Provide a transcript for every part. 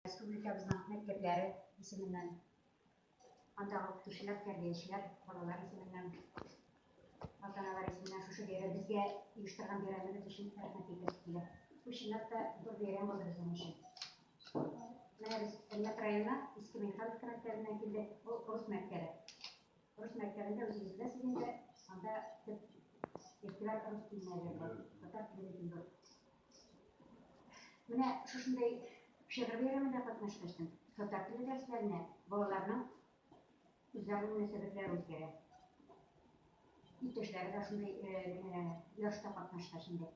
Республикабызның мәктәпләре исеменнән, андагы укытучылар, тәрбиячеләр, балалар исеменнән, ата-аналар исеменнән шушы бәйрәм безгә оештырган бәйрәмебез өчен рәхмәт әйтәсе килә. Бу чынлап та зур бәйрәм булды безнең өчен. Менә без Әлмәт районына Иске Михайловка мәктәбеннән килдек. Бу рус мәктәбе. Рус мәктәбендә үзегез беләсез инде, анда төп игътибар рус теленә бирелә. Татар теле бирелә. Менә шушындый шигырь бәйрәмендә катнашкачтым. Татар теле дәресләренә балаларның үзара мөнәсәбәтләре үзгәрә. Иптәшләре дә шундый ярышта катнашкач инде.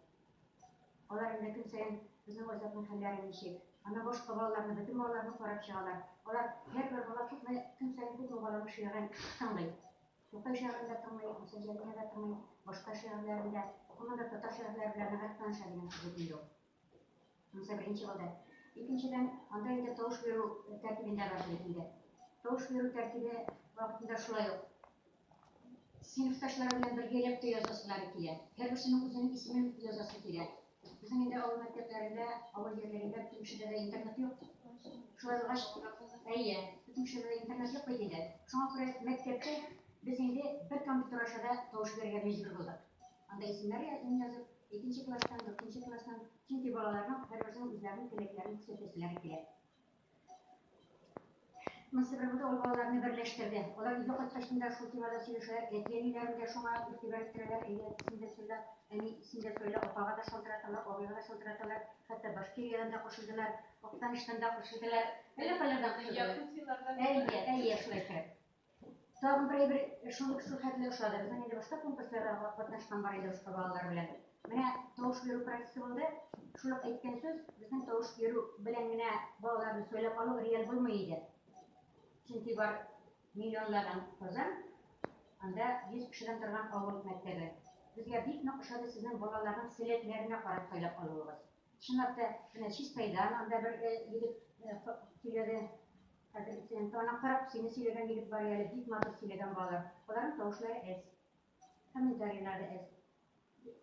Алар инде көн саен безнең Азатның хәлләре ничек, Ана башка балаларны, бөтен балаларны карап чыгалар. Алар һәрбер бала күпме көн саен күпме баланы шигырен тыңлый. Тукай шигырен дә тыңлый, Гүсә Җәлилне дә тыңлый, башка шигырьләрен дә. Гомумән дә татар шигырьләре белән ныграк таныша дигән кебек инде ул. Шунысы беренче булды. Икенчедән, анда инде тавыш бирү тәртибендә бар бит инде. Тавыш бирү тәртибе вакытында шулай ук сыйныфташлары белән бергәләп тә язасылары килә. Һәрберсенең үзенең исемен язасы килә. Безнең инде авыл мәктәпләрендә, авыл җирлегендә бөтен кешедә дә интернет юк. Шулай булгач, әйе, бөтен кешедә дә интернет юк бит инде. Шуңа күрә мәктәптә без инде бер компьютер аша да тавыш бирергә мәҗбүр булдык. Анда исемнәр язып, икенче класстан, дүртенче класстан, чөнки балаларның һәрберсенең үзләренең теләкләрен күрсәтәселәре килә. Монысы бер үк балаларны берләштерде. Алар өйгә кайткачтын да шул темада сөйләшәләр, әти-әниләрен дә шуңа игътибар иттерәләр, әйе, әтисен дә сөйлә, әни, син дә сөйлә, апага да шалтыраталар, абыйга да шалтыраталар, хәтта Башкириядән дә кушылдылар, Актаныштан да кушылдылар, әллә кайлардан кушылдылар. Әйе, әйе, шулай икән. Тагын бер әйбер шундук шул хәтле ошады. Безнең инде башка конкурсларда катнашкан бар иде башка балалар белән. Менә тавыш бирү процессы булды. Шул ук әйткән сүз, безнең тавыш бирү белән генә балаларны сөйләп алу реаль булмый иде. Чөнки бар миллионлаган Казан, анда 100 кешедән торган авыл мәктәбе. Безгә бик нык ошады сезнең балаларның сәләтләренә карап сөйләп алуыгыз. Чынлап та, менә Чистайдан анда бер э, егет э, сөйләде. Хәзер сен ана карап, сине сөйләгән егет бар әле, бик матур сөйләгән балалар. Аларның тавышлары әз. Комментарийлары әз.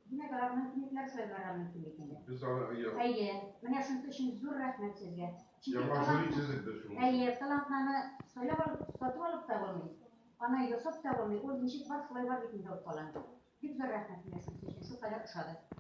Димәк, алар мөмкинлекләр сайларга мөмкин икән. Без аны әйе. Әйе, менә шуның өчен зур рәхмәт сезгә. Яңа жюри төзек без шуны. Әйе, талантларны сайлап алып, сатып алып та булмый. Аны ясап та булмый. Ул ничек бар, шулай бар бит инде ул талант. Бик зур рәхмәт менә шуның өчен. Шул кадәр ошады.